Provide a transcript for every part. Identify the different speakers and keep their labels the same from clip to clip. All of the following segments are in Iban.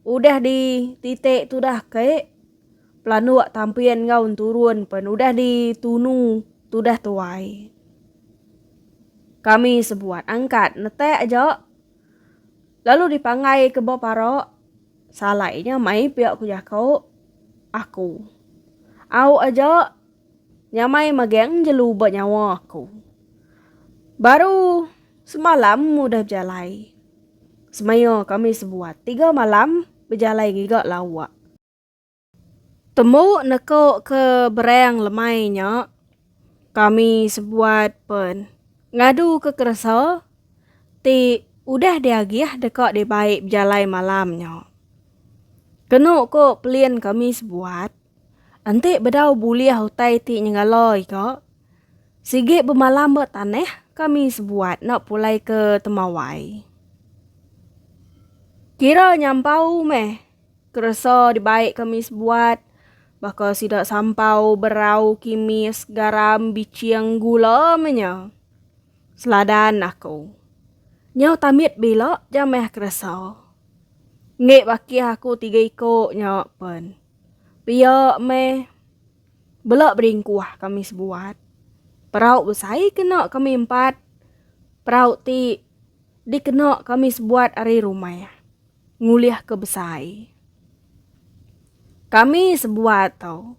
Speaker 1: Udah di titik tudah ke, pelanduk tampin enggau enturun pen udah di tunu tudah tuai. Kami sebuat angkat netak aja lalu di panggai ke ba parak salai nya mai pia ku jako aku. Au aja. Nyamai magang jelu ba nyawa aku. Baru semalam udah bejalai. Semaya kami sebuat tiga malam bejalai ngiga lawak. Tembu neko ke berang lemai nya kami sebuat pen ngadu ke keresa ti udah diagih deka dibai bejalai malam nya. Kenu ko pelin kami sebuat. Enti bedau bulih utai ti nyengaloi ka, sigi bemalam ba tanah kami sebuat enda pulai ke temawai. Kira nyampau meh keresa dibai kami sebuat baka sida sampau berau kimis garam biching gula meh nya. Seladan aku. Nyau tamit bila jamah keresa. Enggi bakih aku tiga iko nya pen. Pia meh, bela beringkuh kami sebuat. Perau besai kena kami empat. Perau ti dikena kami sebuat ari rumah ngulihka besai. Kami sebuat tu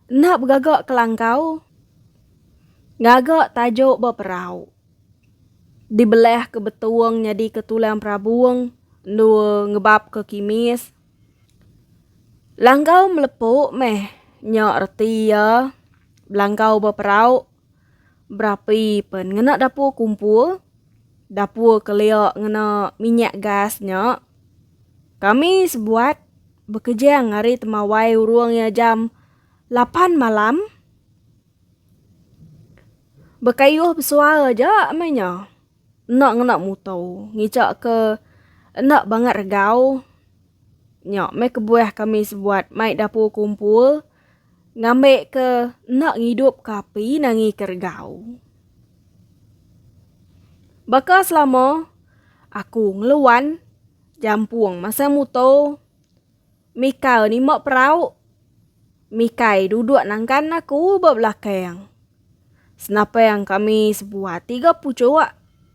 Speaker 1: enda begaga kelangkau ngaga tajuk ba perau. Dibelahka betong nyadika tulang perabong endur ngebabka kimis. Langgau melepu meh nya reti iya, belanggau beperau. Berapi pen ngena dapur kumpul, dapur kelia ngena minyak gas nya. Kami sebuat bekejang ari temawai urung iya jam lapan malam. Bekayuh besual aja meh nya. Enda ngena muto. Ngija ke enda bangat regau. Nya meh kebuah kami sebuat mai dapur kumpul ngambi ke enda ngidup ke api nangi ke regau. Baka selama aku ngeluan jampung masang muto. Mikal nima perau. Mikai duduk nangkan aku ba belakang. Senapang kami sebuah tiga puchuk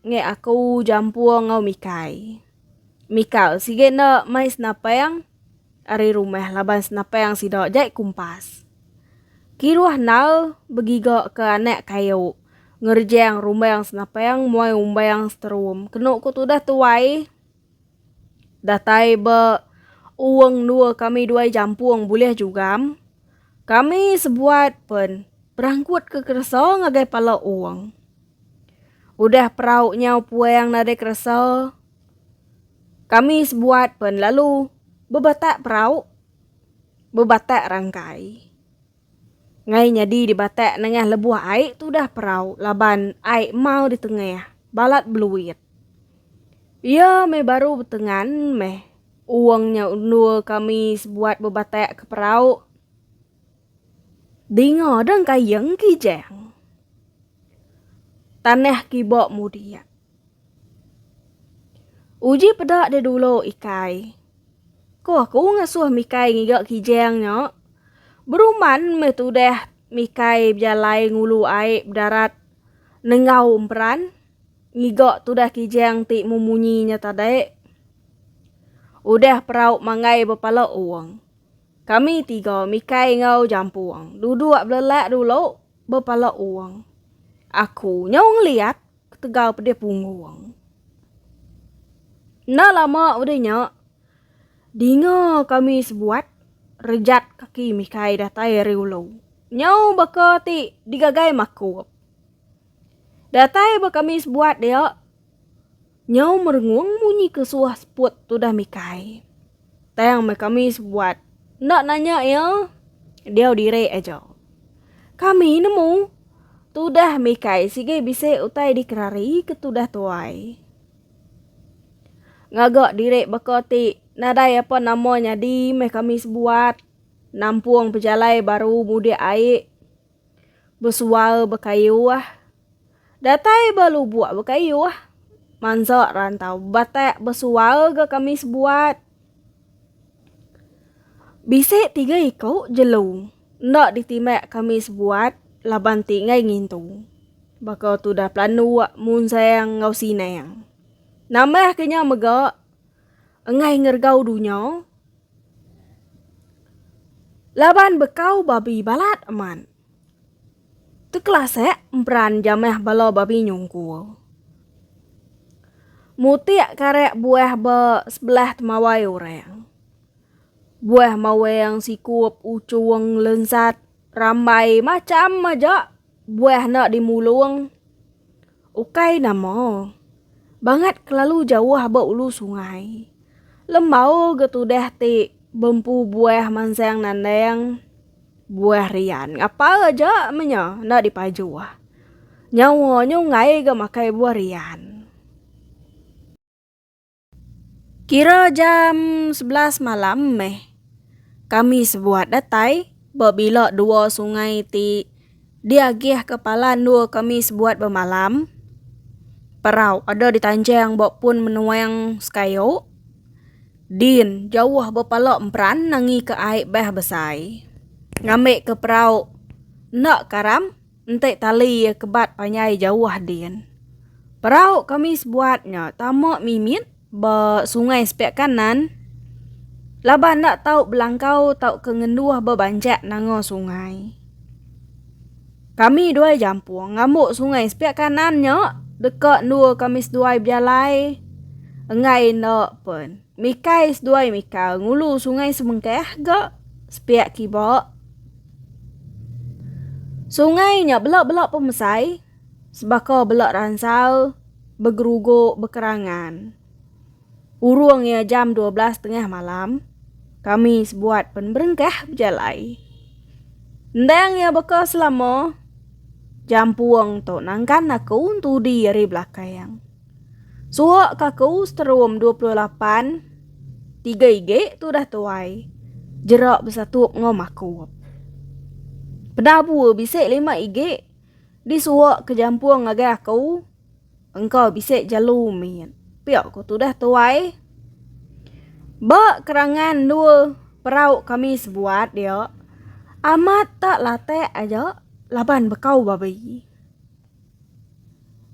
Speaker 1: nge aku jampung enggau Mikai. Mikal sigi enda mai senapang ari rumah laban senapang sida jai kumpas. Kiruh nal begiga ke anak kayu ngerejang rumbang senapang muai umbang seterum kenu ku tudah tuai. Datai ba Uong endur kami duai jampung bulih jugam. Kami sebuat pen berangkut ke keresa ngagai pala Uong. Udah perau nyau puang nadai keresa, kami sebuat pen lalu bebatak perau, bebatak rangkai. Ngai nyadi di batak nengah lebuh ai tudah perau laban ai emau di tengah balat beluit. Iya meh baru betengan meh uong nya endur kami sebuat bebatak ke perau. Dinga deng kayeng kijang. Tanah kiba mudi iya. Uji peda deh dulu ikai. Ko aku ngasuh mikai ngiga kijang nya. Beruman meh tudah mikai bejalai ngulu ai bedarat nengau emperan ngiga tudah kijang ti mung munyi nya tadi. Udah perau manggai bepala ong. Kami tiga mikai enggau jampung duduk belelak dulu bepala ong. Aku nyau ngeliat. ketegal pedih punggung. Enda lama udah nya, dinga kami sebuat rejat kaki Mikai datai ari ulu. Nyau baka ti digagai makup. Datai ba kami sebuat dia, nyau merengung munyi ke suah seput tudah Mikai. Tang meh kami sebuat enda nanya iya, diau diri aja. Kami nemu tudah mikai sigi bisi utai dikerari ke tudah tuai. Ngaga diri baka ti nadai apa nama nyadi meh kami sebuat nampung pejalai baru mudik ai. Besual bekayuh. Datai ba lubuk bekayuh. Mansa rantau batak besual ga kami sebuat. Bisi tiga iku jelu enda ditimbak kami sebuat laban ti enggai ngintu. Baka tudah pelanduk, munsang enggau sinang. Nambah ke nya mega. Enggai ngergau dunya laban bekau babi balat amat. Tekelasek emperan jamah bala babi nyungkul. Mutik karek buah ba sebelah temawai orang. Buah mawang, sikup, ucung, lensat, rambai macam aja Buah enda di mulung. Ukai nama. Bangat kelalu jauh ba ulu sungai. Lembau ga tudah ti bempu buah mansang nandang. Buah rian ngapa aja meh nya enda di pajuh. Nyawa nyunggai ga makai buah rian. Kira jam sebelas malam meh kami sebuat datai ba bila dua sungai ti diagihka pala endur kami sebuat bemalam. Perau ada ditanjang ba pun menuang sekayu. Din jauh ba pala emperan nangika ai beh besai. Ngambika perau enda karam. Enti tali iya kebat panjai jauh din. Perau kami sebuat nya tama mimit ba sungai sepiak kanan laban enda tau belangkau tauka ngenduh ba banjak nanga sungai. Kami dua jampung ngambu sungai sepiak kanan nya deka endur kami seduai bejalai enggai enda pen. Mikai seduai mika ngulu sungai semengkah ga sepiak kiba. Sungai nya bela-bela pemesai sebaka bela ransal begerugu bekerangan. Urung iya jam dua belas tengah malam, kami sebuat pen berengkah bejalai. Endang iya beka selama, jampung tu nangkan aku entudi ari belakang. Suhok ka aku seterum dua puluh lapan tiga igi tu dah tuai jerak besatup enggau makup. Peda bua bisi lima igi di suhok ke jampung ngagai aku engkau bisi jelu mit pia ku tu dah tuai. Ba kerangan endua perau kami sebuat dia amat tak latak aja laban bekau babi.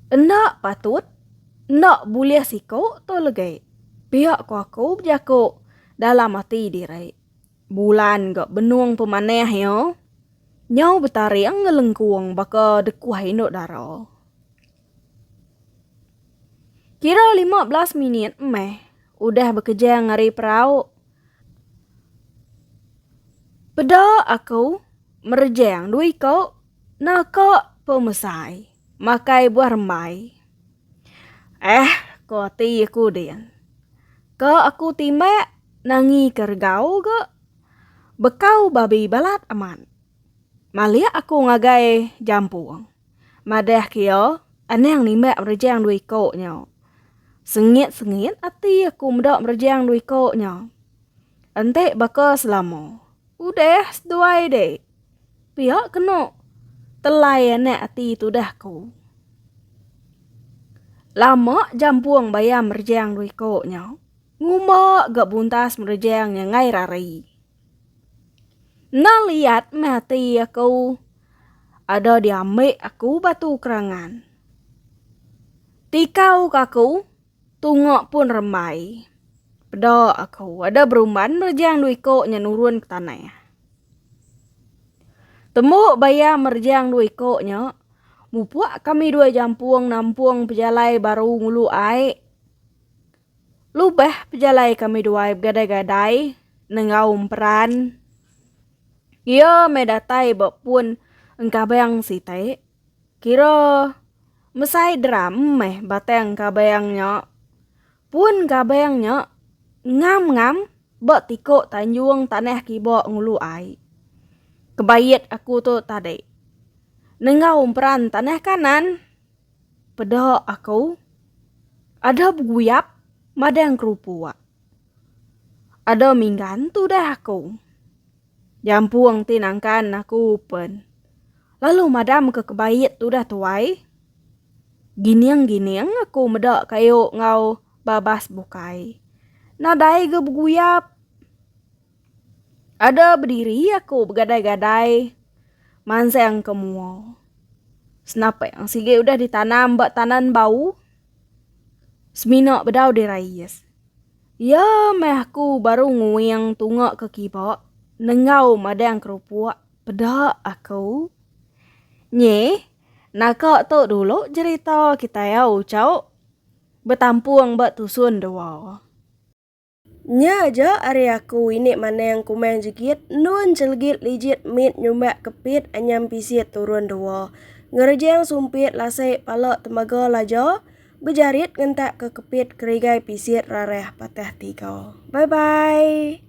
Speaker 1: Enda patut, enda bulih siku tu legi. Pia ko aku bejaku dalam ati diri. Bulan ga benung pemanah iya. Nyau betaring ngelengkung baka dekuh indu dara. Kira lima belas minit meh udah bekejang ari perau. Peda aku merejang dua iku. Naka pemesai makai buah rembai. Eh, ko ati aku din. Ka aku timbak nangi ke regau ga bekau babi balat amat. Malik aku ngagai jampung. Madah kia anang nimbak merejang dua iko nya. Sengit-sengit ati aku meda merejang dua iko nya. Enti baka selama. Udah seduai dik. Pia kena telai anak ati tudah ku. Lama jampung bayam merejang dua iko nya. Ngumba ga buntas merejang nya ngai rari. Na liat meh ati aku ada diambi aku batu kerangan. Tikau ka aku Tunga pun rembai. Peda aku. Ada berumban merejang dua iko nya nurun ke tanah. Tembu baya merejang dua iko nya, mupuk kami dua jampung nampung pejalai baru ngulu ai. Lubah pejalai kami duai begadai-gadai nenggau emperan. Iya meh datai ba pun engkabang siti. Kira mesai drum meh batang kabang nya. Pun kabang nya ngam-ngam ba tiko tanjung tanah kiba ngulu ai. Kebait aku tu tadi. Nenggau emperan tanah kanan. Peda aku. Ada beguyap madang kerupuk. Ada minggan tudah aku. Diampung ti nangkan aku pen. Lalu madam ke kebait tu dah tuai. Gining gining aku meda kayu ngau babas bukai. Nadai ga beguyap. Ada bediri aku begadai gadai mansang ke mua. Senapang sigi udah ditanam ba tanan bau. Semina bedau dirais. Iya meh aku baru nguing tunga ke kiba nenggau madang kerupuk peda aku. Nyi, naka tu dulu jerita kitai au ucau betampung ba tusun dua.
Speaker 2: Nya aja ari aku ini manang kumang jegit endun celegit lijit mit nyumbak kepit anyam pisit turun dua. Ngerejang sumpit lasik pala tembaga laja. Bejarit ngentak ke kepit kerigai pisit rarah patah tiga. Bye bye.